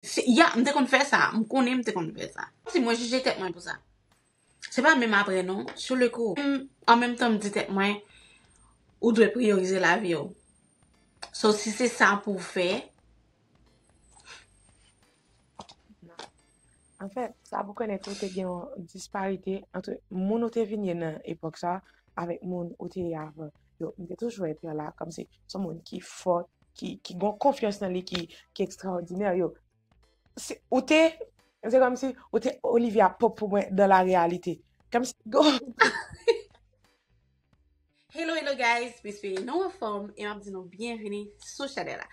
Ya, m te konn fè sa. M konnen m te konn fè sa. Si mwen jije tèt mwen pou sa. Se pa menm apre non, sou le kou. An menm tan m di tèt mwen, ou dwe priyorize lavi w. So si se sa pou w fè. Non. An fèt, sa pou w konnen tou te gen yon disparite antre moun ou te vin ye nan epòk sa avèk moun ou te ye avan. Yo, m te toujou wè Pierre la kòmsi son moun ki fò, ki gon konfyans nan li, ki ekstraòdinè. Yo, ou te, se kòmsi ou te Olivia Pope pou mwen dan la reyalite. Kòmsi, go! Hello, hello guys! M espere nou anfòm e m ap di nou byenvini sou chanèl la.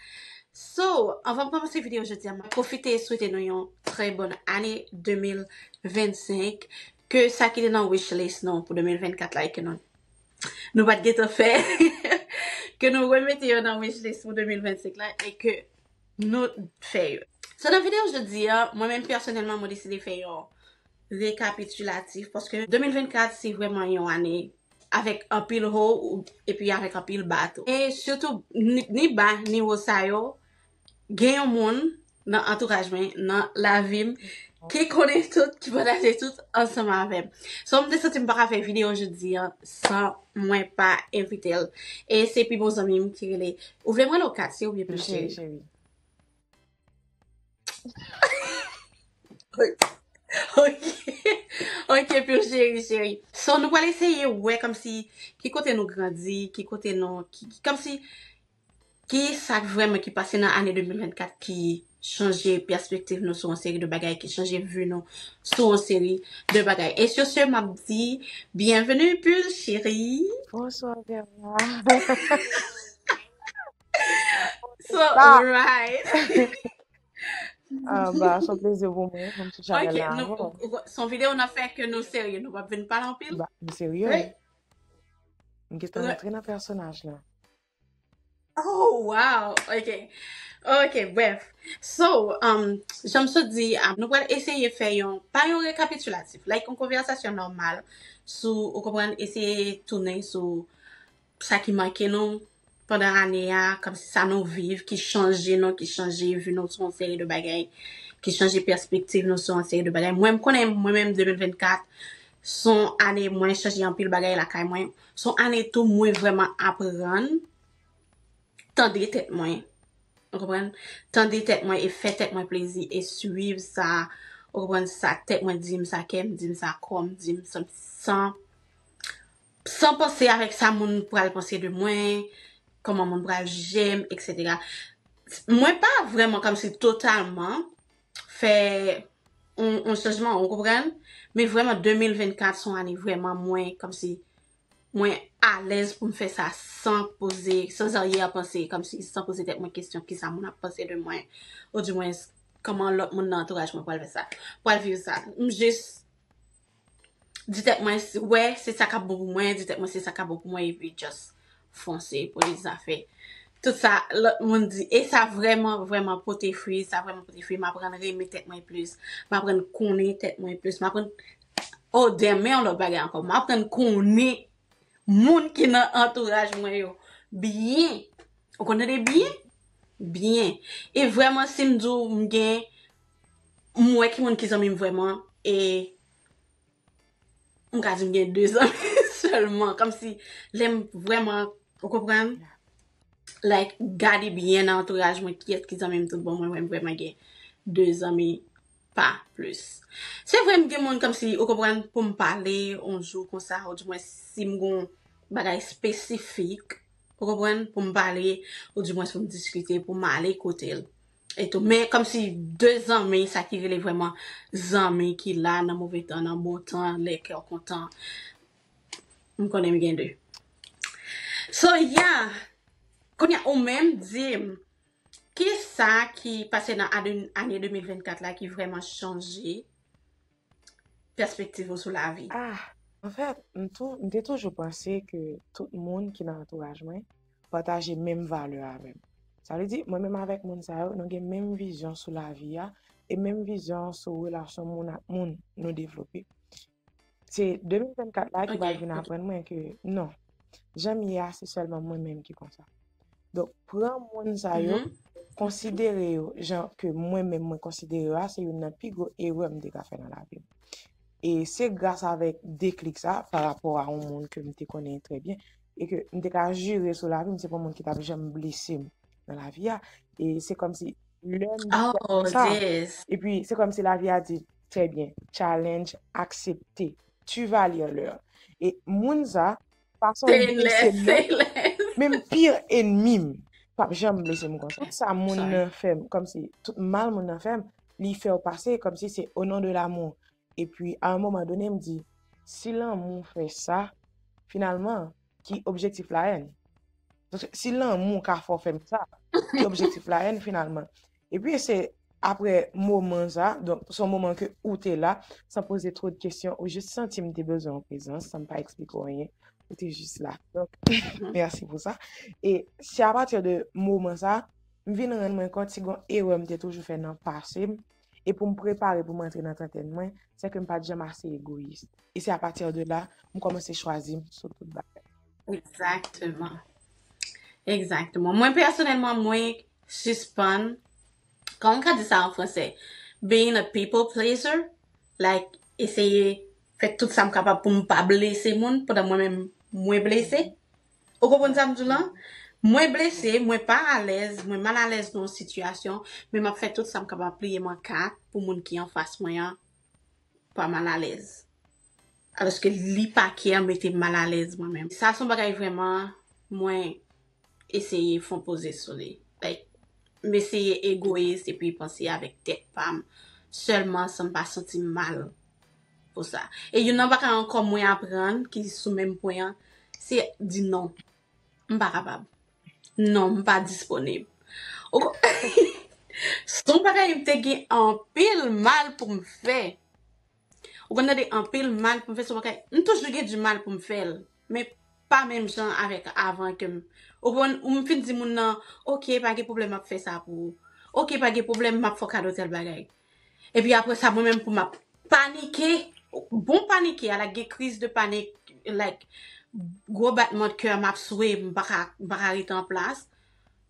So, anvan m kòmanse videyo jodi a, m ap pwofite swete nou yon trè bòn ane 2025. Ke sa ki te nan wishlist nou pou 2024 la e ke nou. nou pat gentan fè ke nou remete yo nan wishlist pou 2025 la e ke nou fè yo. So nan video jodi a, mwen menm pèsonèlman mwen deside fè yon rekapitulatif paske 2024 se vrèman yon ane avèk anpil ho epi avèk anpil ba tou. E sitou ni ba ni ho sa yo Gen yon moun nan antouraj mwen, nan lavi m, ki konnen tout, ki pataje tout ansanm avè m. So m te santi m pa ka fè videyo jodi an san mwen pa envite l. E se pi bon zanmi m ki rele. Ou vle m rele w Katie oubyen Pi Cheri? Ok, ok Pi Cheri cheri. So nou pral eseye wè kòmsi ki kote nou grandi, ki kote nou, kòmsi. Ki sa k vrèman ki pase nan ane 2024 ki chanje pèspektiv nou sou yon seri de bagay, ki chanje vi nou sou yon seri de bagay? E sur ce, m ap di byenveni Bull Chéri! Bonswa Verna! So right! Anba, s on plezi pou mwen pou m sou chanèl la avè w. Ok, s on videyo n ap fè ke nou serye, nou p ap vin pale anpil? Ba, m serye wi. M gen tan rantre nan pèsonaj la. Oh wow, ok, ok, bref. So, um, jan m sot di, a, nou pral eseye fè yon, pa yon rekapitulatif, like yon konversasyon normal sou, ou konprann, eseye tounen sou sa ki manke nou pandan ane a, kom si sa nou viv ki chanje nou, ki chanje vi nou sou yon seri de bagay, ki chanje perspektiv nou sou yon seri de bagay. Mwen m konnen mwen menm 2024, Son ane mwen chanje anpil bagay lakay mwen. Son ane tou mwen vrèman aprann tande tèt mwen. Ou konprann? Tande tèt mwen e fè tèt mwen plezi e swiv sa, ou konprann, sa tèt mwen di m, sa kè m di m, sa kò m di m, san, san, san panse avèk sa moun pral panse de mwen, kòman moun pral jije m, eksetera. Mwen pa vrèman kòmsi totalman fè yon chanjman ou konprann men vreman 2024 son ane vreman mwen komsi mwen alèz pou m fè sa san poze san zaryè panse komsi san poze tèt mwen kesyon kisa moun ap panse de mwen ou di mwen koman lòt moun nan antouraj mwen pral fè sa pral viv sa m jis Di tèt mwen wè se sa kap bon pou mwen, di tèt mwen se sa kap bon pou mwen epi just fonse pou li zafè. Tout sa lòt moun di e sa vrèman vrèman pote fwi, sa vrèman pote fwi, m aprann renmen tèt mwen plis, m aprann konnen tèt mwen plis, m aprann oh damn men yon lòt bagay ankò, m aprann konnen moun ki nan antouraj mwen yo byen, ou konn tande byen? Byen. E vrèman si m di w m gen M wè ki moun ki zanmi m vrèman e m ka di m gen 2 zanmi sèlman. Kòm si lè m vrèman, ou konprann? Like, gade byen nan antouraj mwen kiyès ki zanmi m tout bon, mwen wè m vrèman gen 2 zanmi, pa plis. Se vre m gen moun kòm si, ou konprann, pou m pale on jou konsa ou di mwens si m gon bagay espesifik, ou konprann, pou m pale ou di mwens pou m diskite, pou m ale kote l. etou men komsi de zanmi sa ki rele vreman zanmi ki la nan move tan nan bon tan lè kèw kontan m konnen m gen de so ya kounya ou menm dim kisa ki pase nan ane 2024 la ki vreman chanje pèspektiv ou sou lavi? Ah! Anfèt, m tou, m te toujou panse ke tout moun ki nan antouraj mwen pataje menm valè avè m. Sa vle di, mwen menm avèk moun sa yo, nou gen menm vizyon sou lavi a e menm vizyon sou relasyon moun ak moun nou devlope. Se 2024 la ki pral vin aprann mwen ke non, jan m ye a se sèlman mwen menm ki konsa. Donk, pran moun sa yo, konsidere yo jan ke mwen menm mwen konsidere yo a, se youn nan pi gwo erè m te ka fè nan lavi m. E se gras avèk deklik sa, pa rapò a yon moun ke m te konnen trè byen, e ke m te ka jire sou lavi m, se pa yon moun ki t ap janm blese m nan lavi a. E se kòm si, lè m di sa kon sa, e pi se kòm si lavi a di, trè byen, challenge aksepte, tu vas lire l'heure. E moun sa, Fason li Say peye se less, say mèt less. menm pi enmi m pap janm blese m konsa sa moun Sorry. nan fè m kòmsi tout mal moun nan fè m li fè w pase kòmsi se au nom de l'amour epi a un moment donné m di si lanmou fè sa finalman ki objectif la haine Paske si lanmou ka fè w fè m sa ki objectif la haine finalman Epi se aprè moman sa, donk se yon moman ke ou te la, san poze two de kesyon, ou jis santi m te bezwen yon prezans, san m pa eksplike w anyen, ou te jis la. Donk, mèsi pou sa. E se apati de moman sa, m vin rann mwen kont si gon erè m te toujou fè nan pase m, e pou m prepare pou m antre nan trantèn mwen, se ke m pa t janm ase egoyis. E se apati de la, m kòmanse chwazi m sou tout bagay. Ekzakteman. Ekzakteman. Mwen pèsonèlman, mwen. sispann, kòman m ka di sa an fransè, being a people pleaser, like eseye fè tout sa m kapab pou m pa blese moun pandan mwen menm mwen blese. Ou konprann sa m di w lan? Mwen blese, mwen pa alèz, mwen mal alèz nan yon sitiyasyon, men m ap fè tout sa m kapab, pliye m an 4 pou moun ki anfas mwen an pa mal alèz. Aloske li pa kè an mete m mal alèz mwen menm. Sa son bagay vrèman mwen eseye fon poze sou li. Like m eseye egoyis epi panse avèk tèt pa m sèlman san m pa santi m mal pou sa. E youn nan bagay ankò mwen aprann ki sou menm pwen an se di non. M pa kapab. Non m pa disponib. Ou konprann? Son bagay m te gen anpil mal pou m fè. Ou konn tande anpil mal pou m fè sou bagay, m toujou gen di mal pou m fè l, men pa menm jan avèk avan ke m, ou konn, ou m fin di moun nan, ok pa gen pwoblèm m ap fè sa pou ou, ok pa gen pwoblèm m ap fè w kado tèl bagay. Epi aprè sa mwen menm pou m ap panike, bon panike a like gen kriz de panik, like gwo batman de kè m ap swe m pa ka, m pa ka rete an plas,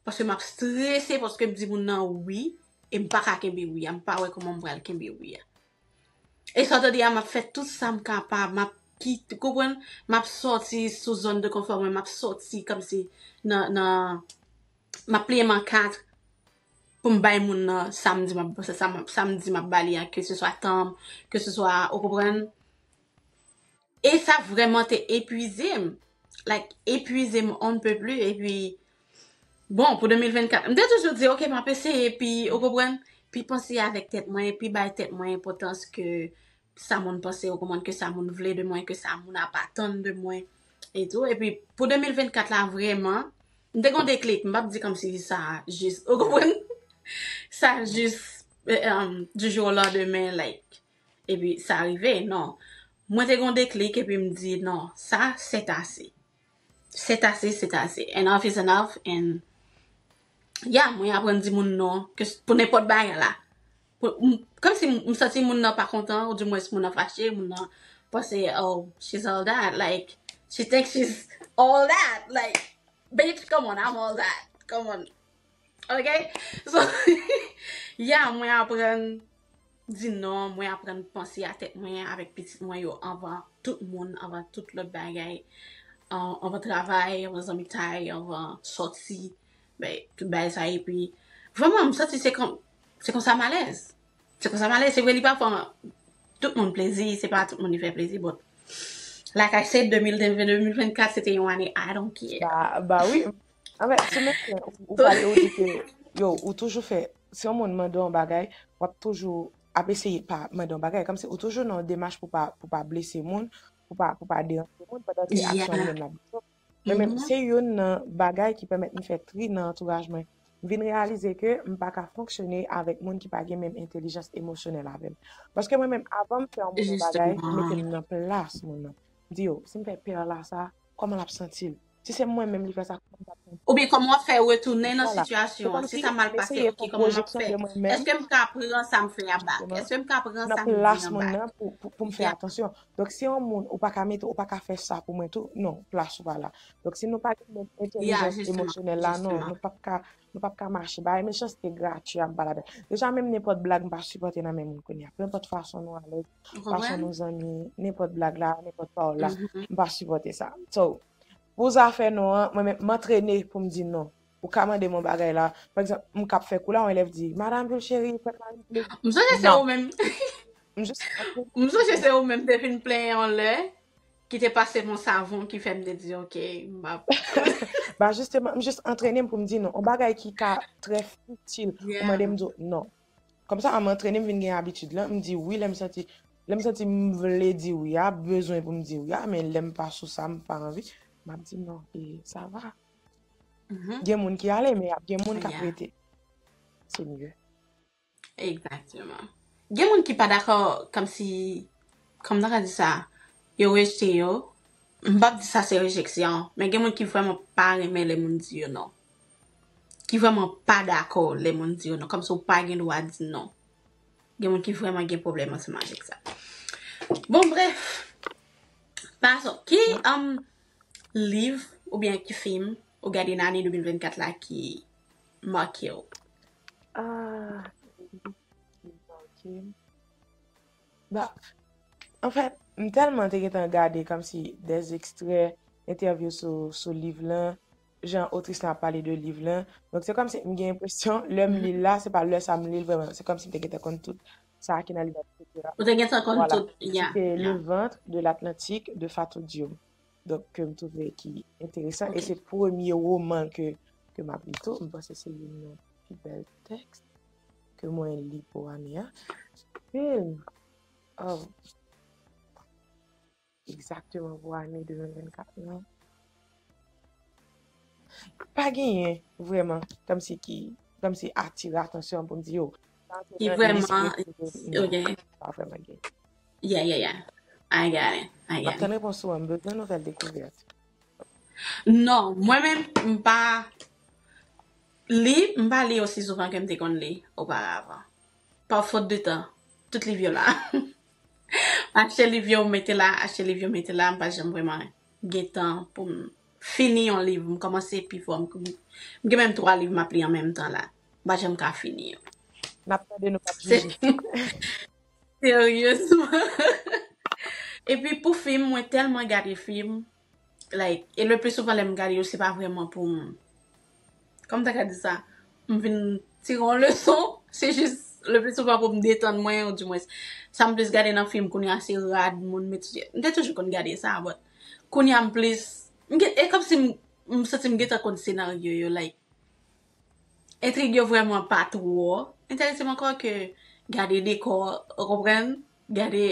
paske m ap strese paske m di moun nan wi e m pa ka kenbe wi a, m pa wè kòman m pral kenbe wi a. E sa w te di a, m ap fè tout sa m kapab, m ap kit, konprann, m ap sòti sou zòn de konfò mwen, m ap sòti kòmsi nan, nan, m ap pliye m an 4 pou m bay moun nan sa m di m ap, sa, sa m ap, sa m di m ap ba li a, keseswa tan m, keseswa, ou konprann. E sa vrèman te epuize m. Like, epuize m on ne peut plus. E pi, bon, pou 2024, m te toujou di, ok, m ap eseye, pi, ou konprann, pi panse avèk tèt mwen, pi bay tèt mwen enpòtans ke sa moun panse, ou konprann, ke sa moun vle de mwen, ke sa moun ap atann de mwen, e tou. E pi, pou 2024 la, vrèman, m te gen yon deklik. M p ap di kòmsi sa jis, ou konprann, sa jis, du jour au lendemain, like, Epi sa rive, non. Mwen te gen yon deklik epi m di, non, sa c'est assez. C'est assez, c'est assez. Enough is enough and yeah, mwen aprann di moun non pou nenpòt bagay la. Kòm si m santi moun nan pa kontan ou di mwens moun nan fache, moun nan panse oh, she's all that, like, she thinks she's all that, like, bitch, come on, I'm all that, come on, ok? So, yeah, mwen aprann. Di non, mwen aprann panse a tèt mwen avèk pitit mwen yo anvan tout moun, anvan tout lòt bagay, anvan travay, anvan zanmitay, anvan sòti, bay tout bagay sa epi vrèman m santi se kon se konsa m alèz. Se konsa m alèz, se vre li pa fè tout moun plezi, se pa tout moun li fè plezi but lakay se 2022-2024 se te yon ane I don't care. Ba wi, anfen, sou men ou pale ou di ke yo ou toujou fè. Si yon moun mande w yon bagay, w ap toujou ap eseye pa mande yon bagay. Kòmsi ou toujou nan yon demach pou pa pou pa blese moun, pou pa pou pa deranje moun pandan se aksyon li menm l ap di w. Mwen menm, se youn nan bagay ki pèmèt m fè tri nan antouraj mwen. M vin reyalize ke m pa ka fonksyone avèk moun ki pa gen menm entelijans emosyonèl avè m. Paske mwen menm, avan m fè yon moun yon bagay, m mete m nan plas moun nan. M di yo, si m fè Perla sa, Kòman l ap santi l? Si se mwen menm li fè sa, kòman m t ap santi m? Oubyen kòman w ap fè retounen nan sitiyasyon an? Si sa mal pase, ok, kòman m ap fè? Èske m ka pran sa m fè a bak? Èske m ka pran sa m di an bak? Pou m fè atansyon. Donk si yon moun, ou pa ka mete, ou pa ka fè sa pou mwen tou. Non, plas ou pa la. Donk si nou pa gen menm entèlijans emosyonèl la, non, nou p ap ka Nou pap ka mache bay mechanste gratwi ap balada deja menm nenpòt blag mpa sipòte nan men moun kounya penpòt fason nou alèz fason nou zanmi nenpòt blag la nenpòt pawòl la mpa sipòte sa so pou zafè non an mwen menm mantrene poum di non ou ka mandem yon bagay la pa egzanp mkap fè kou la yon elèv di madam jul cheri fèm maril plezi nan msonje se ou menm te fin plenyen yon lè Ki te pase m yon savon ki fè m te di ok m ap. Ba jisteman m jis antrene m pou m di non. Yon bagay ki ka trè fitil ou mande m di w non. Kòmsa an m antrene m vin gen abitid lan m di wi lè m santi lè m santi m vle di wi a bezwen pou m di wi a men lè m pa sou sa m pa anvi m ap di non e sa va. Gen moun ki ale men y ap gen moun k ap rete se mye. Exactement. Gen moun ki pa dakò kom si kom nan ka di sa yo rejte yo. M pap di sa se rejeksyon, men gen moun ki vrèman pa renmen lè moun di yo non. Ki vrèman pa dakò lè moun di yo non, kom si w pa gen dwa di non. Gen moun ki vrèman gen pwoblèm ansanm avèk sa. Bon brèf, pason, ki um liv oubyen ki fim ou gade nan ane 2024 la ki make w? Ah, li manke m. Ba, an fèt, m tèlman te gentan gade kòmsi dè ekstrè entèvyou sou, sou liv lan, jan otris lan ap pale de liv lan. Donk se kòmsi m gen enpresyon, lè m li l la, se pa lè sa m li l vrèman. Se kòmsi m te gentan konn tout sa ki nan liv la, et cetera. Ou te gentan konn Voilà. tout, yeah, C'était yeah. Le ventre de l'Atlantique de Fatou Diome. Donk ke m twouve ki enteresan. E se premye woman ke m ap li tou. M panse se youn nan pi bèl tèks ke mwen li pou ane a. Film! Aww! Egzakteman pou ane 2024 lan. Pa genyen vreman kòmsi ki, kòmsi atire atansyon pou m di yo. Ki vreman, ok. Pa vreman genyen. Yeah yeah yeah I got it I Map got it. tann repons ou an, m bezwen nouvèl dekouvèt. Non, mwen menm m pa li, m pa li osi souvan ke m te konn li oparavan. Pa fot de tan, tout liv yo la. M achte liv yo, m mete la, achte liv yo, m mete la, m pa janm vreman gen tan pou m fini yon liv. M kòmanse pi fò, m m gen menm 3 liv m ap li an menm tan la. M pa janm ka fini yo. Nap tande nou pap Se jije. Seryezman. Epi pou fim mwen tèlman gade fim like e le pli souvan lèm gade yo se pa vrèman poum kòm ta ka di sa m vin tire yon leson se jis le pli souvan poum detann mwen ou di mwens sam plis gade nan fim kounye a se rad moun met sou tèt m te toujou konn gade sa but kounye a m plis m gen e kòmsi m santi m gentan konn senaryo yo like Entrig yo vrèman pa twò enterese m ankò ke gade dekò, ou konprann, gade,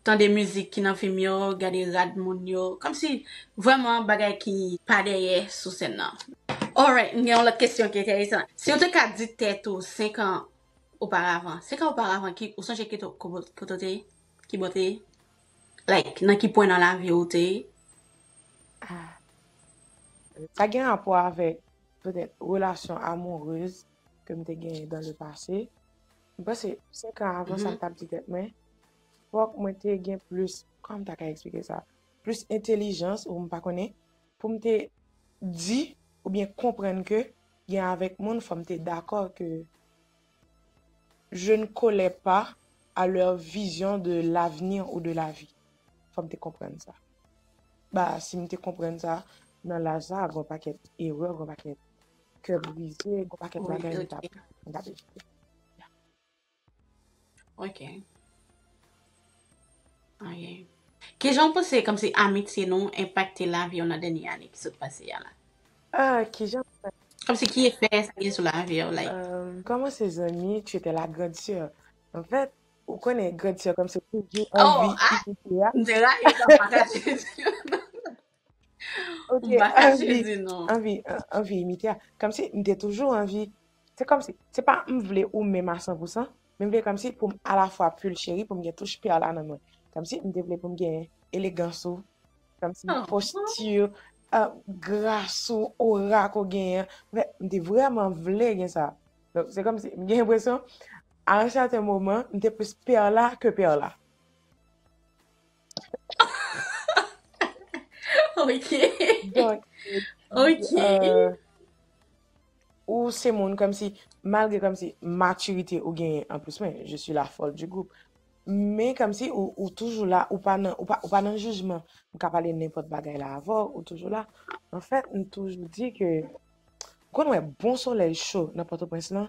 tande mizik ki nan fim yo, gade rad moun yo, kòmsi vrèman bagay ki pa dèyè sou sèn nan. Alright, m gen yon lòt kesyon ki enteresan. Si ou te ka di tèt ou 5 an oparavan, 5 an oparavan ki, ou sonje ki kote ou te ye? Kibò ou te ye? Like, nan ki pwen nan lavi ou te ye? Ah. Sa gen rapò avèk petèt relasyon amourez ke m te genyen dans le passé. M panse 5 ans avan sa m tap di tèt mwen fòk mwen te gen plis, kòman m ta ka eksplike sa, plis entelijans ou m pa konnen pou m te di oubyen konprann ke gen avèk moun fòk m te dakò ke je ne collais pas à leur vision de l'avenir ou de la vie. Fòm te konprann sa. Ba si m te konprann sa, nan laj sa a gon pakèt erè, gon pakèt kè brize, gon pakèt bagay m tap evite. Ok. Ok. Kijan w panse kòmsi amitye nou enpakte lavi w nan dènye ane ki sot pase a la? Ah, kijan m panse. Kòmsi ki efè sa gen sou lavi w like? Umm, kòman se zanmi, tu étais la grande sœur. En fait, ou konnen grande sœur kòmsi w toujou anvi imite a. Oh, ah, m te rayi sa m pa ka chèche. Ok, Ou pa kache anvi, di non. anvi, an- anvi imite a. Kòm si m te toujou anvi, se kòm si, se pa m vle ou menm a 100%, men m vle kòm si pou m alafwa pu l cheri, pou m gen touch pè la nan mwen. Kòm si m te vle pou m gen elegans ou, kòm si Oh, postur, uh, gras ou, aura ko genyen. An fèt, m te vrèman vle gen sa. Donk, se kòm si, m gen impresyon, a un certain moment, m te plus pè la ke pè la. Ok. Donk, Ok. euh, ou se moun kòm si, malgre kòm si maturité ou genyen an plus mwen, je suis la folle du groupe. Men kòm si ou, ou toujou la, ou pa nan, ou pa, ou pa nan jijman. M ka pale nenpòt bagay la avè w, ou toujou la. An fèt, m toujou di ke, ou konn wè bon solèy cho nan Pòtoprens lan,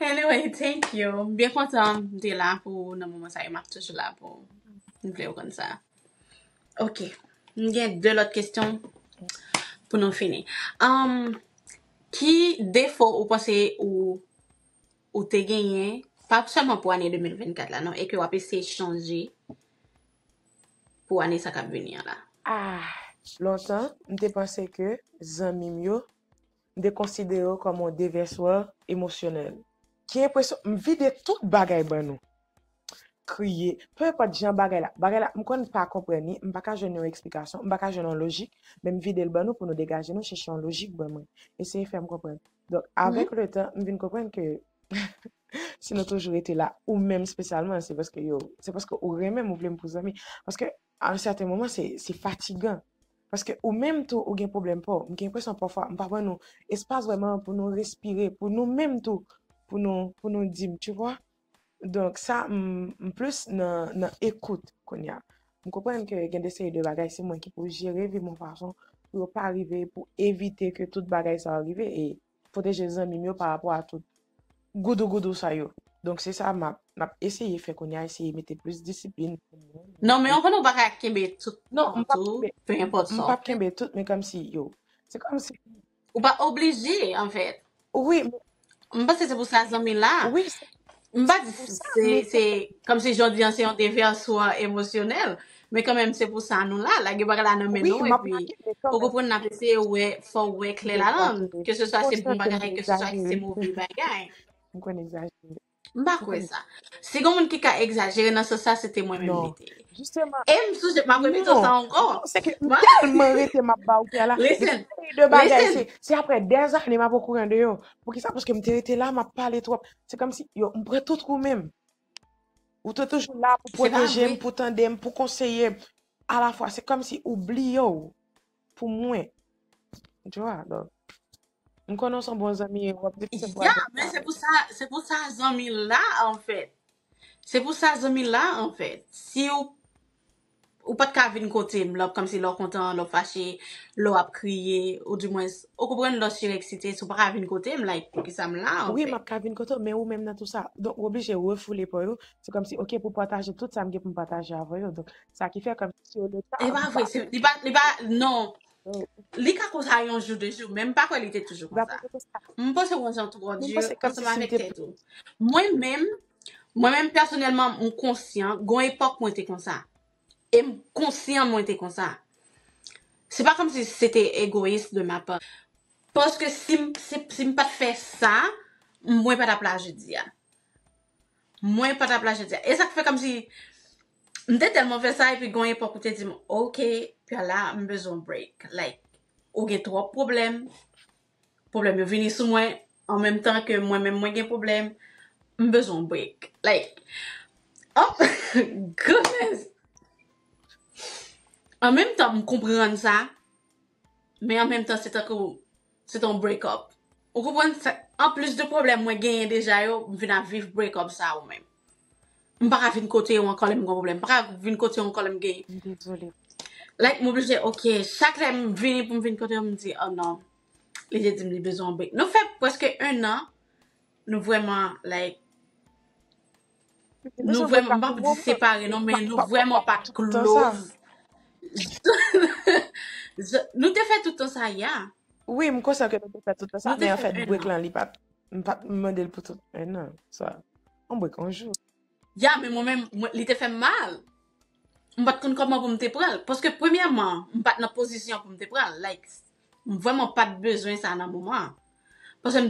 Anyway thank you m byen kontan m te la pou ou nan moman sa e map toujou la pou ou m vle ou konn sa ok m gen 2 lòt kesyon pou nou fini anm ki defo ou panse ou ou te genyen pa sèlman pou ane 2024 la non e ke wap eseye chanje pou ane sa kap vini an la ah lontan m te panse ke zanmi m yo M te konsidere w kòm yon devèswè emosyonèl. Ki enpresyon m vide tout bagay ban nou. Kriye, pe enpòt jan bagay la, bagay la m konn pa konprann li, m pa ka jwenn yon eksplikasyon, m pa ka jwenn yon lojik, men m vide l ban nou pou nou degaje nou, chèche yon lojik ban mwen. Eseye fè m konprann. Donk, avèk letan, m vin konprann ke si nou toujou rete la, ou menm spesyalman, se paske yo, se paske ou renmen m, ou vle m pou zanmi. Paske a yon sèten moman, se fatigan. Paske ou menm tou ou gen pwoblèm paw. M gen enpresyon pafwa m pa ban nou espas vrèman pou nou respire pou nou menm tou pou nou pou nou di m tu vwa. Donk sa m m plis nan nan ekout kounya. M konprann ke gen de seri de bagay se mwen ki pou jere vi m yon fason pou yo pa rive pou evite ke tout bagay sa yo rive e pwoteje zanmi m yo pa rapò a tout goudou goudou sa yo. Donk se sa m ap eseye fè kounye a, eseye mete plis disiplin. Non men anfen ou pa ka kenbe tout non tou, pe enpòt sa w fè. Non, m pap kenbe tout men kòmsi yo, se kòmsi. Ou pa oblije anfèt. Wi men. M panse se pou sa zanmi la. Wi se. M pa di se, se, kòm si jan w di an se yon devèswa emosyonèl, men kan menm se pou sa nou la, lage bagay la nan men nou, epi, ou konprann n ap eseye wè, fò w wè klè ladann, ke se swa se bon bagay, ke se swa se move bagay. M konn egzajere. M pa kwè sa. Si gen yon moun ki ka egzajere nan sans sa, se te mwen menm li te ye. E m sonje, m ap repete w sa ankò. Non, se ke m tèlman rete m ap ba w kè la, depi m pale de bagay, se aprè dèzane m ap okouran de yo. Poukisa? Paske m te rete la, m ap pale twòp. Se kòm si, yo, m pran tout ou menm. Ou te toujou la pou pwoteje m, pou tande m, pou konseye m. Alafwa, se kòm si ou bliye w pou mwen. Joa, love. M konnen w se yon bon zanmi e w ap di se pou Adèle. Ya, men se pou sa, se pou sa zanmi la anfèt. Se pou sa zanmi la anfèt. Si w. Ou pa t ka vin kote m lè w ap kòmsi, lè w kontan, lè w fache, lè w ap kriye, ou di mwens, ou konprann lè w sireksite, si w pa ka vin kote m, like, poukisa m la anfèt? Wi, m ap ka vin kote w, men ou menm nan tou sa. Donk, ou oblije refoule pa w yo, se kòmsi, ok, pou pataje tout sa m gen pou m pataje avè w yo. Donk, sa ki fè kòmsi yo leta a. E pa vre, se, li pa, li pa, non. Li ka konsa yon jou, de jou, men m pa kwè li te toujou konsa. M panse w wè jan tou ou di, ansanm avèk tèt ou. Mwen menm, Mwen menm pèsonèlman m konsyan gon epòk mwen te konsa. E m konsyan mwen te konsa. Se pa kòm si se te egoyis de ma part. Paske si m se si m pa t fè sa, mwen pa t ap la jodi a. Mwen pa t ap la jodi a. E sa k fè kòm si m te tèlman fè sa epi gon epòk ou te di m, ok, Piala m bezwen w break. Like ou gen twòp pwoblèm. Problèm yo vini sou mwen an menm tan ke mwen menm mwen gen problèm. M bezwen yon break. Like Oh goodness! An menm tan m konprann sa, men an menm tan se tankou se te yon break up. Ou konprann sa, anplis de problèm mwen genyen deja yo, m vin ap viv break up sa ou menm. M paka vin kote yo ankò lèm gon problèm. M paka vin kote yo ankò lèm gen. M dezole. Like m oblije ok. Chak lèm vini poum vin kote yo m di oh non. Li te dim li bezwen yon break. Nou fè preske 1 an nou vrèman like nou vrèman m pap di separe non men nou vrèman pat close. Nou te fè tout tan sa yeah. Wi m konsyan ke nou te fè tout tan sa men anfèt break lan li pat m pat mandel pou tout 1 an sa. Mwen bwè kon jou. Ya men mwen menm li te fèm mal m pat konn kòman pou m te pranl paske premyèman m pat nan pozisyon pou m te pranl like m vrèman pat bezwen sa nan moman an paske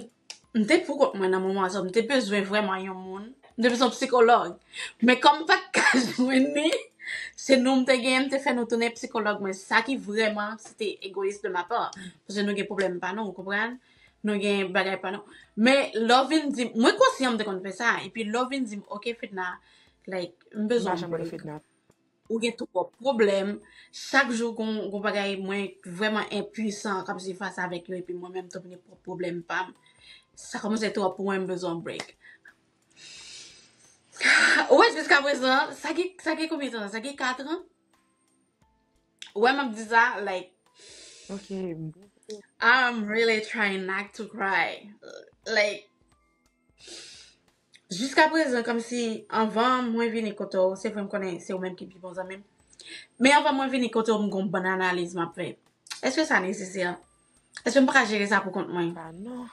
m te pou kont mwen nan moman an so m te bezwen vrèman yon moun m te bezwen yon psikològ men kòm m pat ka jwenn ni se nou m te genyen m te fè nou tounen psikològ mwen sa ki vrèman se te egoyis de ma pa paske nou gen pwoblèm pa nou ou konprann. Nou gen bagay pa nou. Men lè w vin di m, mwen konsyan m te konn fè sa, epi lè w vin di m, ok Fedna, like, m bezwen yon brek. Ou gen twòp pwoblèm, chak jou gon bagay mwen vrèman enpuisan k ap di fas avèk yo epi mwen menm tou vini pran pwoblèm pa m. Sa kòmanse twòp pou mwen, m bezwen yon brek. Ou wè jiskaprezan, sa gen konbyen tan? Sa gen katran? Wè map di sa like Ok bouke. I'm really trying not to cry like jiska prezan komsi anvan mwen vini kote w se vre m konnen se ou menm ki pi bon zanmi m men anvan mwen vini kote w m gon bann analiz map fè eske sa nesesè eske m paka jere sa pou kont mwen Bah non.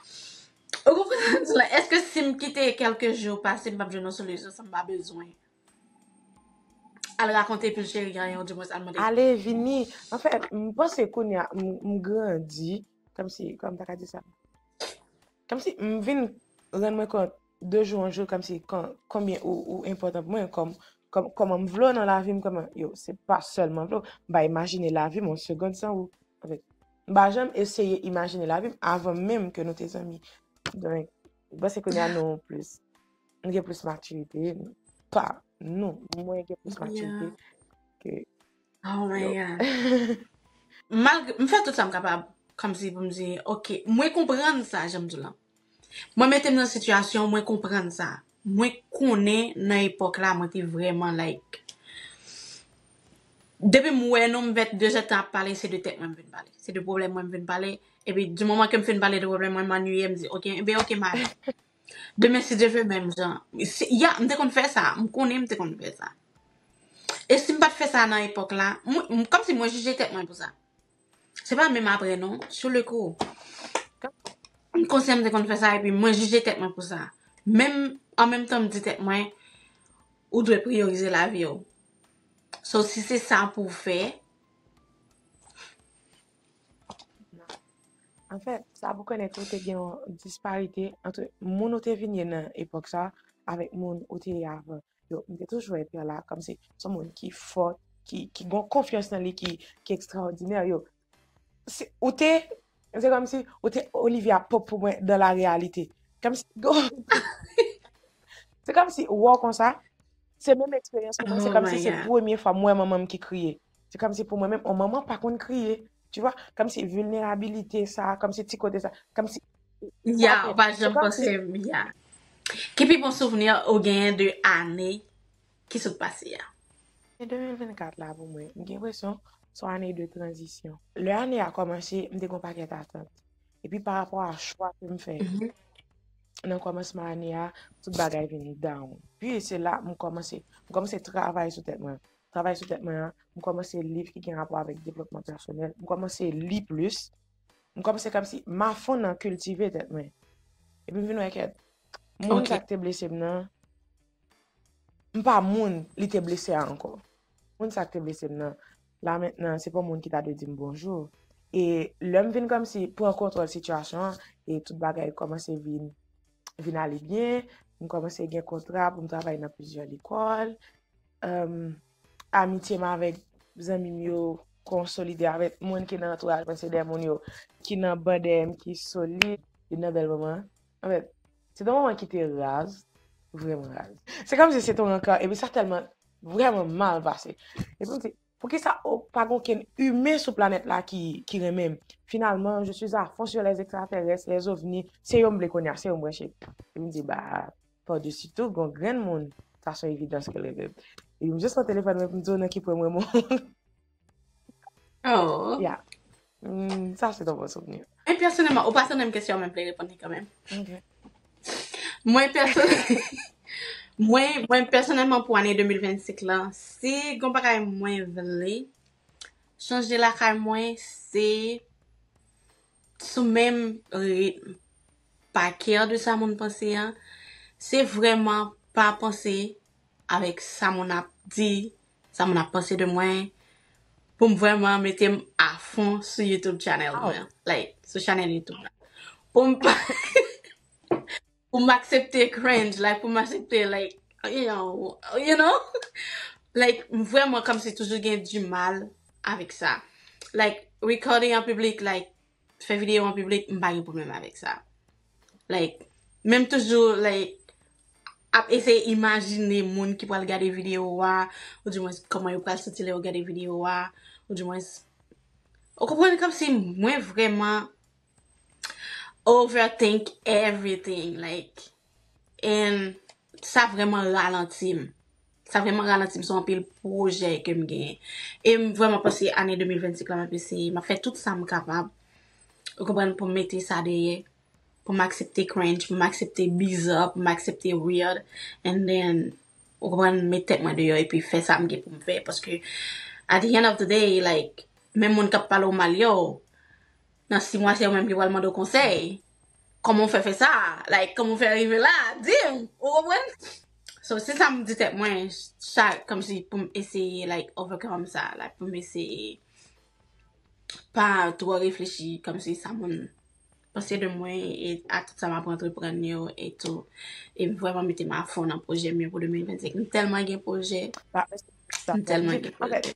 ou konprann sa m di la eske si m kite kèlke jou pase m pap jwenn yon solisyon san m pa bezwen Al rakonte pul cheri anyen ou dimwens al mande. Ale vini anfen m panse kounya m grandi kòmsi kòm m ta ka di sa kòmsi m vin rann mwen kont de jou an jou kòmsi konbyen ou enpòtan pou mwen kòm kòman m vle w nan lavi m kòman yo se pa sèlman m vle w m pa imajine lavi m yon segond san ou anfen m pa janm eseye imajine lavi m avan menm ke nou te zanmi donk m panse kounya nou plis. Nou gen plis matirite. Pa nou. Mwen gen plis matirite. Ke. Oh my God. Malgre. M fè tout sa m kapab. Kòm si pou m di. Ok. Mwen konprann sa jan m di w lan. Mwen mete m nan sitiyasyon. Mwen konprann sa. Mwen konnen nan epòk la mwen te vrèman like. Depi m wè nou m vèt de zèt tan ap pale se de tèt mwen m vin pale. Se de pwoblèm mwen m vin pale. Epi di moman ke m fin pale de pwoblèm mwen m annwiye m di ok. Enben ok m ale. Demen si Dye vle menm jan. Si ya m te konn fè sa. M konnen m te konn fè sa. E si m pa t fè sa nan epòk la. Mwen kòm si mwen jije tèt mwen pou sa. Se pa menm aprè non. Sou le kou. M konsyan m te konn fè sa epi mwen jije tèt mwen pou sa. Menm an menm tan m di tèt mwen ou dwe priyorize lavi w. So si se sa pou w fè. Anfè, sa pou konnen tou te gen yon disparite antre moun ou te vin ye nan epòk sa avèk moun ou te ye avan. Yo, m te toujou wè Pierre la kòm se son moun ki fò, ki ki gon konfyans nan li ki ki ekstraòdinè yo. Se ou te se kòm si ou te Olivia Pope pou mwen dan la reyalite. Kòm si Se kòm si wè w konsa, se menm eksperyans pou mwen, se kòm si se premye fwa m wè manman m ki kriye. Se kòm si pou mwen menm, on manman pa konn kriye. Tu vois? Kòm si vulnerabilité sa, kòm si ti kote sa, kòm si... Ya, ou pa janm panse, ya. Ki pi bon souvni ou genyen de ane ki sot pase ya? Ane 2024 la pou mwen, m gen presyon son ane de tranzisyon. Lè ane ya kòmanse, m te gon pakèt atant. E pi pa rapò a chwa ke m fè nan kòmansman ane ya, tout bagay vin down. Pi se la m kòmanse, m kòmanse travay sou tèt mwen. Travay sou tèt mwen an, m kòmanse liv ki gen rapò avèk devlopman pèsonèl, m kòmanse li plis, m kòmanse kòmsi m afon nan kiltive tèt mwen. Epi m vin wè ke moun sa ki te blese m nan, m pa moun li te blese a ankò. Moun sa ki te blese m nan, la mentnan se pa yon moun ki ta dwe di m bonjou. E lè m vin kòmsi pran kontwòl sitiyasyon an, e tout bagay kòmanse vin, vin ale byen, m kòmanse gen kontra pou m travay nan plizyè lekòl, Amitye m avèk zanmi m yo konsolide avèk moun ki nan antouraj mwen se de moun yo ki nan ban dèyè m ki solid. Youn nan bèl moman anfèt se te yon moman ki te raz, vrèman raz. Se kòmsi se te yon rankò epi sa tèlman vrèman mal pase. Epi m di Poukisa ok pa gen okenn humain sou planèt la ki ki renmenm finalman je suis à fond sur les extraterrestres les ovni se yo m vle kounya se yo m branche epi m di ba par dessus tout gon grenn moun sa son evidans ke l renmenm epi m just pran telefòn mwen epi m di w nan ki pwen m renmen w oh yeah Humm sa se yon bon souvni. Mwen pèsonèlman, ou pa tonn menm kesyon men m vle reponn li kanmenm. Ok. Mwen pèsonèl mwen mwen pèsonèlman pou ane 2025 lan, si gon bagay mwen vle chanje lakay mwen se sou menm ritm pa kè de sa moun panse an, se vrèman pa panse avèk sa moun ap di, Sa moun ap panse de mwen. Poum vrèman metem afon sou YouTube channel mwen an. Like sou channel YouTube la. Poum pa Poum aksepte cringe like poum aksepte like you know like m vrèman kòmsi toujou gen du mal avèk sa like recording an piblik like. fè video an piblik m pa gen problem avèk sa like menm toujou like ap eseye imajine moun ki pral gade video a ou di mwen koman yo pral santi lè yo gade video a ou di mwen ou konprann kom si mwen vreman over think everything like And sa vreman ralanti m. Sa vreman ralanti m sou anpil pwojè ke m genyen. E m vreman panse ane 2025 la m ap eseye. M ap fè tout sa m kapab. Ou konprann pou m mete sa dèyè. Pou m aksepte cringe, pou m aksepte bizarre, pou m aksepte weird. And then, ou konprann, met tèt mwen deyò epi fè sa m gen pou m fè. Paske at the end of the day, like, menm moun k ap pale w mal yo. Nan 6 mwa se yo menm ki pral mande w konsèy. Kòman w fè fè sa? Like, kòman w fè rive la? Di m! Ou konprann? So, se sa m di tèt mwen chak, kòm si pou m eseye like overcome sa, like pou m eseye pa twò reflechi kòm si sa moun panse de mwen e a tout sa m ap antreprann yo e tou. E m vrèman mete m afon nan pwojè m yo pou 2025. M tèlman gen pwojè, m tèlman gen pwojè.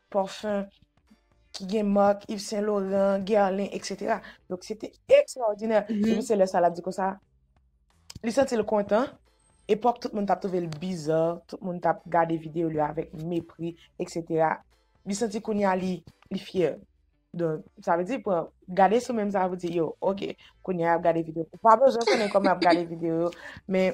Parfum ki gen mark Yves Saint Laurent, Guerlain etc. Donc se te extraordinaire. E pi se lè sa l ap di konsa, li santi l kontan. Epòk tout moun t ap twouve l bizarre, tout moun t ap gade videyo li avèk mepri etc. Li santi kounye a li fyè. Donk sa vle di pran, gade sou menm sa pou di yo ok kounye a y ap gade videyo. Ou pa bezwen konnen kòman y ap gade videyo yo men.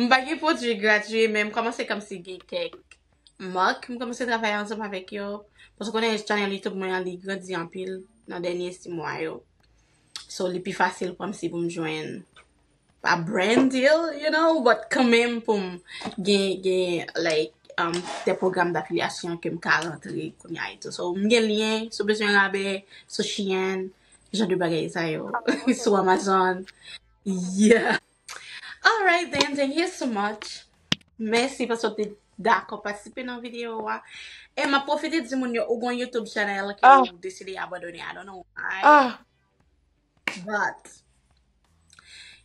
M pa gen pwodui gradye men m kòmanse kòmsi gen kèk mak m kòmanse travay ansanm avèk yo. Paske w konnen chanèl Youtube mwen an li grandi anpil nan dènye si mwa yo. So li pi fasil kòmsi pou m jwenn pa brand deal you know but kanmenm pou m gen gen like um de pwogram dafilyasyon ke m ka rantre kounya etou. So m gen lyen si w bezwen rabè sou Shein. jan de bagay sa yo sou Amazon yeah alright then thank you so much mèsi paske w te dakò patisipe nan videyo a e map pwofite di moun yo ou gon youtube channel ke ou deside abandone I don't know why but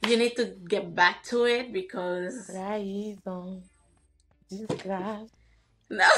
you need to get back to it because trayizon disgras nan.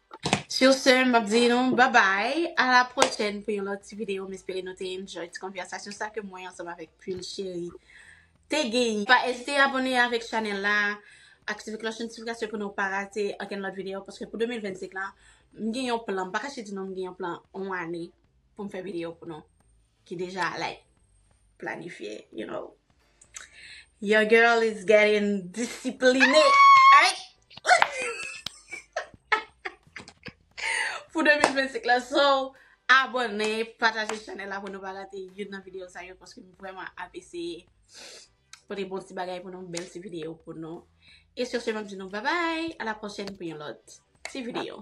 Sur ce, m ap di nou babay, a la pwochèn pou yon lòt ti videyo. M espere nou te enjoy ti konvèsasyon sa ke mwen ansanm avèk Pul Cheri te genyen. Pa ezite abone avèk chanèl la, aktive klòch notifikasyon pou nou pa rate okenn lòt videyo paske pou 2025 la, m gen yon plan, m pa kache di nou m gen yon plan yon ane pou m fè videyo pou nou. ki deja like planifye you know your girl is getting discipline pou 2025 la so abone pataje chanel la pou nou pa rate youn nan video sa yo paske m vreman ap eseye pote bon ti bagay pou nou bel ti video pou nou e sur se map di nou babay a la prochen pou yon lot ti video.